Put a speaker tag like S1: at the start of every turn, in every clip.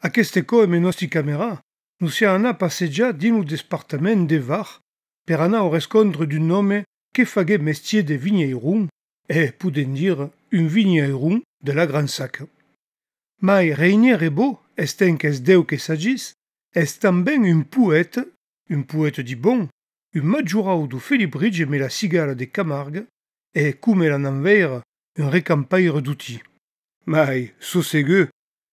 S1: Aqueste coe me nòsti camerà, nos siá anar passejar dins lo despartament de Var per anar au rescòntre d'un òme que faguèt mestier de vinhairon e, podèm dire, un vinhairon de la Gran Saca. Mai Reinier Rebó, estenc es deu que sagís, es tanben un poèta, un poèta di bon, un majorau d'o Felibritge me la cigala de Camarga, e com era n'an veir un recampair reduti. Mai, sossegeu,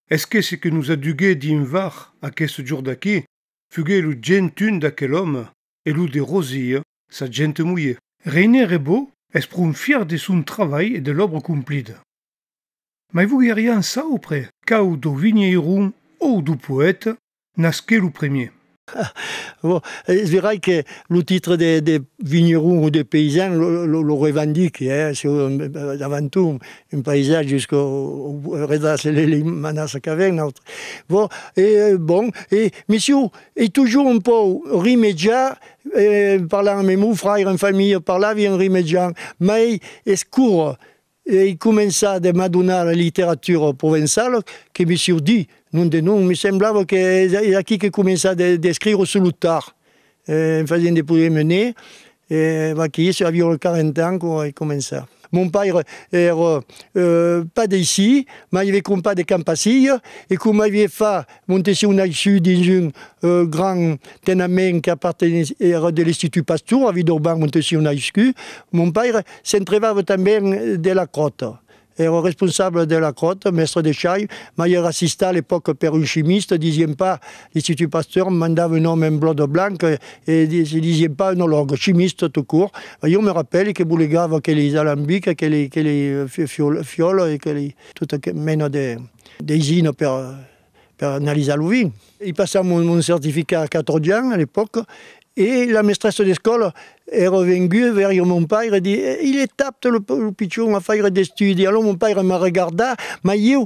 S1: es que ce que nos a dugué dinvar aqueste jorn d'aqui fugué lo gentun d'aquel òme e lo de Rosille, sa gente-mulher. Reine Rebeau es pron fier de son travalh e de l'òbra complida. Mai voguerián saupre cau do vinheiron ou do poète nasqué lo premier. Bon, es verai que lo titre de de vinheiron ou de paysan lo revendique, hein, se davant ton un paysage jusqu'au redresse les les manasses qu'avèm nòstre. Bon, e bon, e messiu, e toujours un pòu rimejar, e parlant amb mon fraire en familha parlavi en rimejan, mai es courre, Ei començat e m'adonar a literatura provençala que me surdi, non de non, me semblava que es aquí que començat de d'escriure sus lo tard, en fasent de poèmes ne, e vaquí es avió lo 40 ans quau ai començat. Mon paire èra pas d'aicí, m'aive compat de Campasilla e coma aive fat Montesieu naiscut dins un grand tenament que apartenés era de l'Institut Pasteur, a Vidorbanc Montesieu naiscut. Mon paire se'n trevava tanben de la còta. Èra responsable de la còta, mèstre de chai, mai èra assistat a l'epòca per un chimista, disien pas l'Institut Pasteur mandava un òme en blòda blanca e se disien pas enologue, chimista tot court. Mai jo me rapèli que bolegava aqueles alambics, aqueles fiòla e aqueles tota mena de Deisina per per analizar lo vin. I passar mon mon certificat a 4 dian a l'epòca e la mestressa d'escòla èra venguda vers jo mon paire e di, il est apte lo lo pichon a faire d'estudi, alò mon paire m'a regarda, ma ieu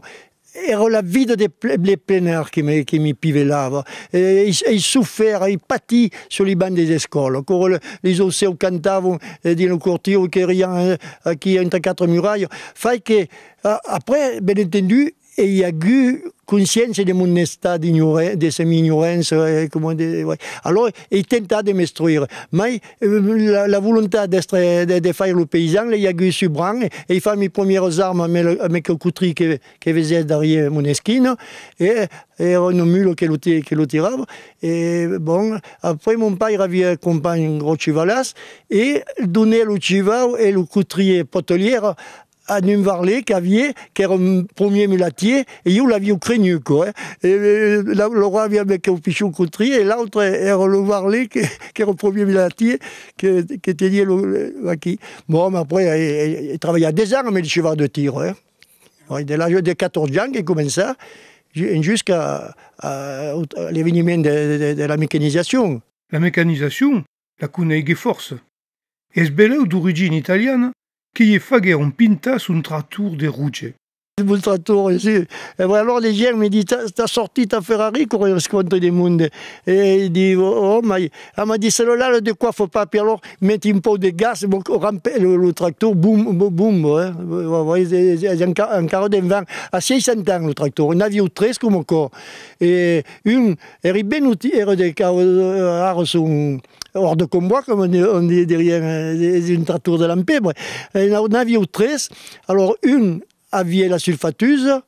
S1: èra la vida de ple de plenar que me que me pivelava e ei ei sufèr, ei patir sur li ban des escòla, cor le li aucèu cantavon e dins lo cortiu querián aquí entre 4 muralhas, fai que Après, ben entendu, ei agu consciéncia de mon estat d'ignoran, de semi-ignorança, comment dire, ouais. Alò ei tentat de m'estruire, mai la la volontat d'estre de de faire lo paysan l'ei agu subran, ei far mi premieras armas me le me que cotri que que vesés darrier mon esquina, e era una mula que lo ti que lo tirava, e bon, après mon pair avia un companh gros chivalàs, e donè lo chivau e lo cotrier potoliera En un varlet qu'avié, qu'ère un promier mulatier, e iu l'aviu crenut quò, eh. E lo roi aviá ben queu pichon contrier, e l'autre ère lo varlet que qu'ère un promier mulatier que que tenié lo aquí. Bon, ma après e trabalhà des ans amb el cheval de tir, eh. Oi, de l'age de 14 ans que començà, ju en jusqu'a a l'eveniment de de la mecanisacion. La mecanisacion, la coneigué fòrça. Es beleu d'origina italiana que ie faguèron pintar son tractor de roge. Eth mon tractor, e si. E voi alor de gent me di, t'as sortit a Ferrari corrent es contres de monde. E di, o mai. A m'as dit, se lo lalo de quò fo papi, alor meti un pòu de gas, bon, o rampe lo tractor, bum, bum, e voi, voi, es encara de envèn. A 600 ans lo tractor, n'avieu tres coma quò. E un, eri ben utile, era de cau, ara son. Hors de combois comme on dit dirién es un tractor de l'AMP, bon e n'au n'aviéu tres, alors un avié la sulfatusa,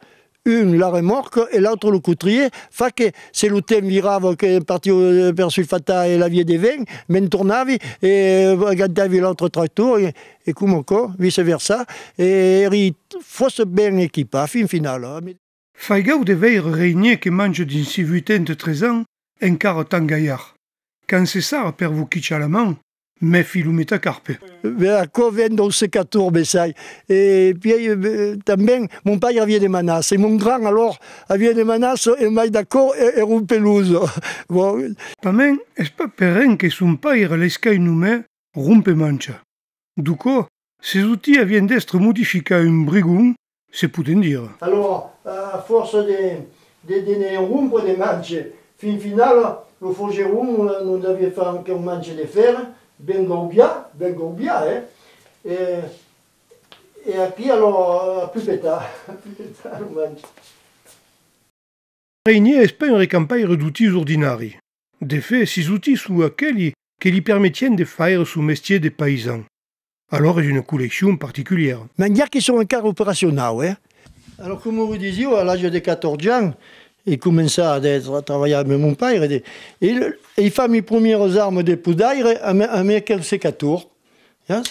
S1: un la remorque e l'autre lo cotrier, fa que se lo temps virava que partiu per sulfatar e l'avié de vent, me'n tornavi e agatavi l'autre tractor e e coma aquò, vice versa e eri fòrça ben equipat fin finala. Faigau de veire Reigné que mange dins si vuitenta tres ans encara tant gaillard. Quand se sarra per vos quichar la man, mè filho me t'acarpe. Bèl aquò ven dau seca torbe, sai. E pièi tanben mon paire avia de manas, e mon gran alòr avia de manas e mai d'aquò èra un pelós. Bon. Tanben es pas per ren que son paire l'escai nomè Rompemancha. Ducò, ces auti avien d'èstre modificats un brigon, se poden dire. Alora, a fòrça de de ne rompre de manche, fin finala, lo forgeron non devie far qu'un manche de fèrre, ben gorbiat, ben gorbiat, eh? E, e aquí, alora, a pupetar, a pupetar lo manche. Reinier es pas un recampaire d'outils ordinari. D'efet, sis outils son aqueli que li permetien de faire son mestier de paisan. Alor es una colleccion particuliera. Mandiar que son encara operacionau, eh? Alor coma vos disiu, a l'age de 14 ans, ei començar a d'èstre a travalhar amb mon paire, e ei fa mes premieres armes de podaire amb aquel secators. Yes,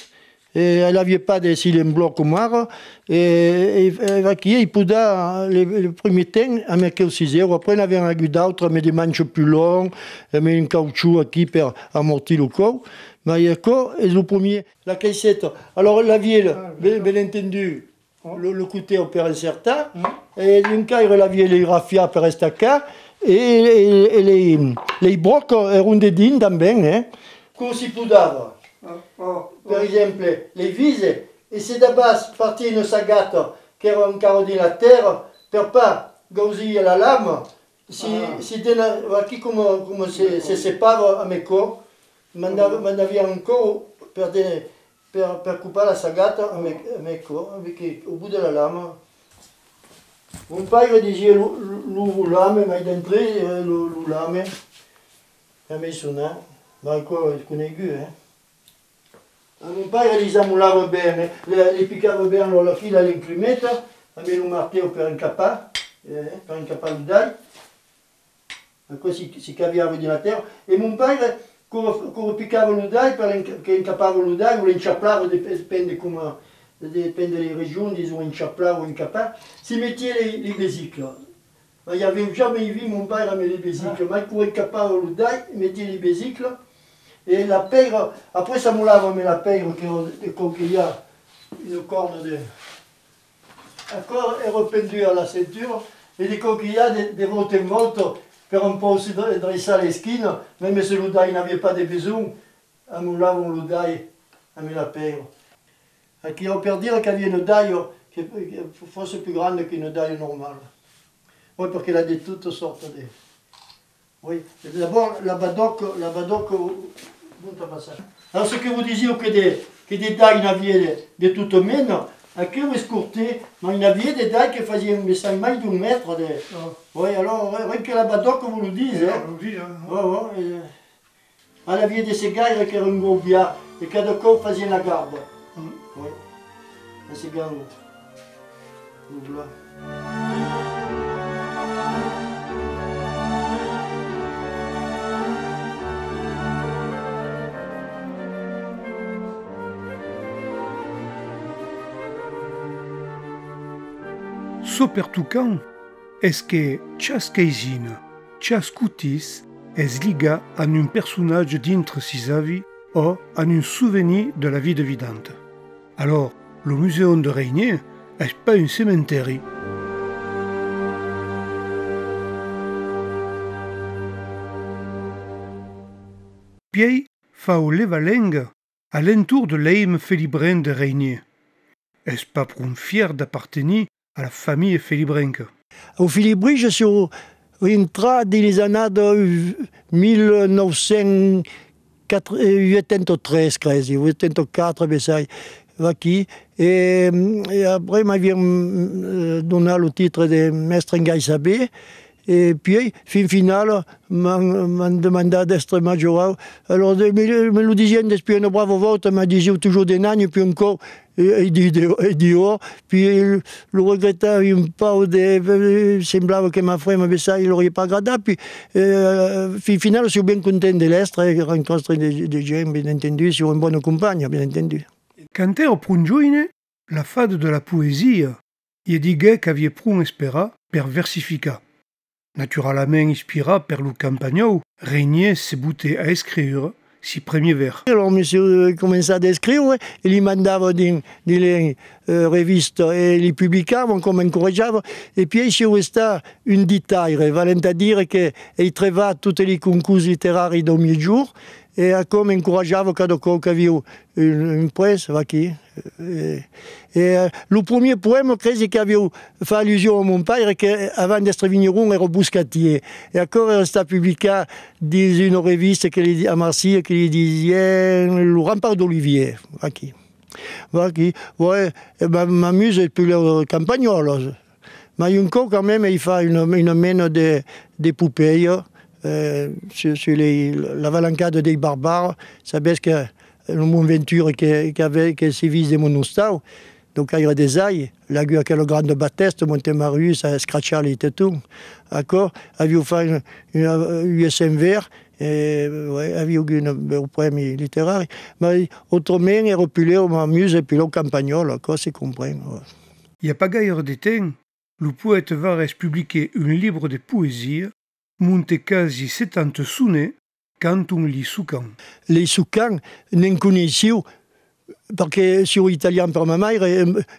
S1: e a l'avie pas de s'il en blòc coma ara, e e vaquí ei podar le le prumèr temps amb aqueu sisèu, après n'avián agut d'autre ame de mancho pus long, ame un cauchou aquí per amortir lo còu, mai aquò es lo prumèr. La caisseta, alors l'avie, ben entendu, Lo locutèu per encertar e encaire la vie lei rafiar per estacar e lei bròco eron de din tanben eh. Com si podava per exemple lei vise e se dabas partir no sagat qu'èra encara din la tèrra per pas gausir la lama si dena vaquí com se sepava a me cò m'andavian encò per de Per per copar la sagata amb eth mèco avec eth bout de la lama. Mon paire disié lo lo lo lame mai d'entré era lo lo lame la meisona mai aquò es conegut eh. A mon paire li zamolava ben eh le li picava ben lo la fila a l'encrumeta ambe lo martèu per encapar eh per encapar lo dai. Aquò si qu'aviá avut una tèrra. E mon paire, quò o picava lo dai per l'encapava lo dai o l'enchaplava, depende coma, depende de lei regions, dison enchaplar o encapar, se metiá lei besicles. Mai avèu jamei vist mon paire a mai lei besicles, mai quò encapava lo dai, metiá lei besicles e la pèira, après s'amolava mai la pèira que era de quò que i a una corna de. Aquò ero pendut a la centura e li conquilhà de vòuta en vòuta per un pauc se dreissar l'esquina, meme se lo dai n'aviá pas de besonh, amolavon lo dai a me la pèira. Aquò per dire qu'aviá una daia que fòsse pus granda qu'una daia normala. Oi, perque l'ai de tota sòrta de. Oi, d'abord la badoc, la badoc non t'a passat. Aos ce que vos disieu que de que de dai n'avié de de tota mena, aqueu es corte, mai n'avié de dai que fasian bessai mai d'un mètre de, oi, alors, oi, oi que la badoc vos lo dis, eh, oi, oi, Al avie de se gaire qu'èra un gaubià e cada còp fasie una garba. Hum, uèi. Mai se gan lo. Lo bla. Çò pertocant es que chasqueisina. Chascoutis es liga an un personatge dintre sis avi ò an un souvenir de la vida vidanta. Alor, lo Musèon de Reignier es pas un cementèri. Pièi fau levalenga A l'entorn de l'Eime Felibren de Reynier, es pas pron fièr d'apartenir a la familha felibrenca. Au Felibrich es au intra de les annadas 1983, cresi, 84 bessai, vaquí, e après m'avián donat lo titre de mèstre en Gai-Saber, E puèi, fin finala, m'an demandat d'èstre majoral, alòs me lo disián despús una brava vòuta, m'an disiu tujur d'un an e puèi ancòu, ei diu ò, puèi lo regretari un pau de, semblava que ma frema bessai i l'auriá pas agradat, puèi fin finala siu ben content de l'èstre, e rancòstre de gent, ben entendut, siu una bona companha, ben entendut. Quand èra pron joine, la fada de la poesia, e diguec qu'avie pron esperar per versificar. Naturalament inspirat per lo campanhòu, Renier se botè a escriure si primier vèrs. Lo monsieur començà d'escriure e li mandava dins de les revistas e li publicavan com encoratjava e pièi sieu estat un ditaire, valent a dire que ei trevat totes li concurs literari dau miègjorn e a com encoratjava cada còu qu'avieu un près, vaquí, E lo premier poèma cresi qu'avieu fa allusion a mon paire que avant d'estre vigneron èra boscatier e aquò èra estat publicat dins una revista que li a Marsilha que li disièn lo Rempart d'oliviers, vaquí, vaquí, voi, e ma ma muse es pus lèu campanhòlas. Mai un còu quand même ei far una mena d'epopèia sur l'avalancada dei barbars, sabètz que lo Mont Venture que se vis demont nostau, lo caire de Zai, l'agut aquela granda batèsta, Monte Marius a escrachar lei tetons, aquò aviu far una ua s'envèr e aviu agut una bèu prèmi literari, mai autrament era pulèu ma musa e pulèu campagnòla, aquò se compren. I a pas gaire de temps, lo poète Varès publiquèt un libre de poesia, monte quasi setanta sonets, canton li sucan. Li sucan, ne'n coneissiu, perque sieu italian per ma maire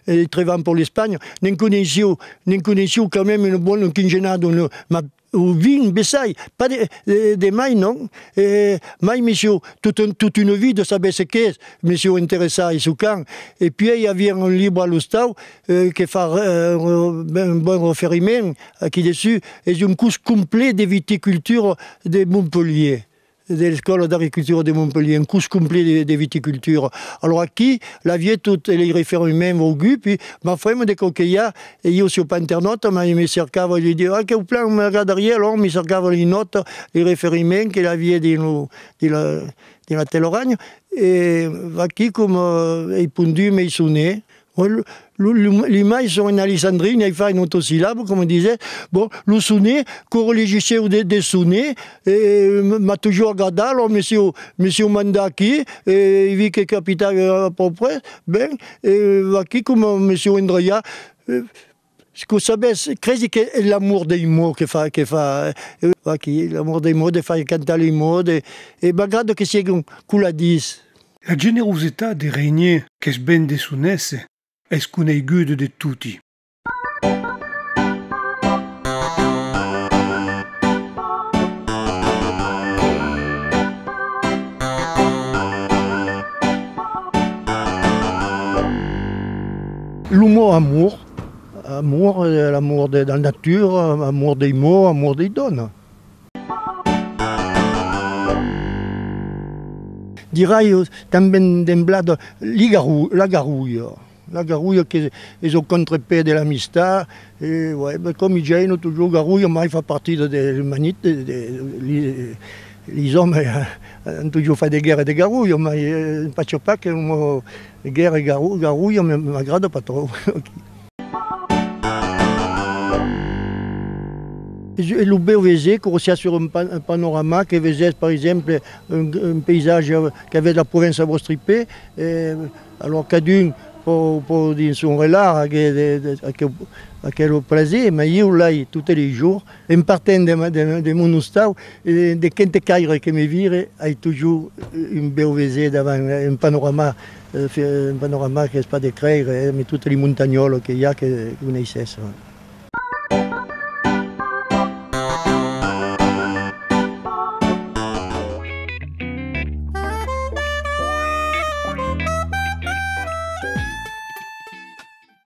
S1: e trèvan per l'Espanha, ne'n coneissiu, ne'n coneissiu quand même una bona quingenada, una, mas O vin, bessai, pas de de mai, non? E mai messiu, tot un tot una vida sabèt se qu'es, messiu interessai su can, e puèi avián un libro a l'ostau que fa un bon referiment aquí dessus, es un curs complet de viticultura de Montpelhier. de l'Escòla d'Agricultura de Montpelhier, un curs complet de viticultura. Alòra aquí, l'avié tot e lei referent umèn vau gupi, mas fraimant de quauque ja, e io sio pas internauta, mas me cercava, li diu, aqueu plan m'agradarié, alòra me cercava li nòta, li referiments que l'avié dins lo, dins la, dins la teloranya, e vaquí coma ei pondut mei sonet, Oi, lo, lo, lo, li mai son en alissandrin, ei far un autosillabo, coma disè, bon, lo sonè, quora li gessèu de, de sonè, e, e, m', m'a tujur agardat, alòra me siu, me siu mandat aquí, e, ei vist que capitava a pòu près, ben, e, vaquí coma me siu endraiat, e, Se qu'o sabes, cresi que es l'amor dei mots que fa que fa aqui, l'amor dei mots de fai cantar lei mots e e magrado que sieg un coladís. La generositat de Regnier, qu'es ben de son esse, es coneiguda de toti. Lo mot amor, amor, l'amor de la natura, amor dei mots, amor dei dòna. Dirai tanben d'emblat la garulha, la garulha qu'es au contrepè de l'amistat, coma i ja ei un autre jorn, garulha mai fa partida de l'umanitat, Lis òmes an totjor fait de guèrra e de garulho, mai un pacho pas que amo guèrra e garulho, m'agrada pas tròu. Es lo bèu vesir que rosiás sur un panorama, que vesés per exemple un paisatge qu'avètz la Provença a vòstre pè, alòrs cadun pòu dins son relat aquel plaser, mai ieu l'ai totes les jours. En partent de ma, de mon ostau, de quente caire que me vire, ai totjor un bèu veser davant, un panorama, un panorama qu'es pas de creire, e me totes li montanhòles que i a que coneissèsse.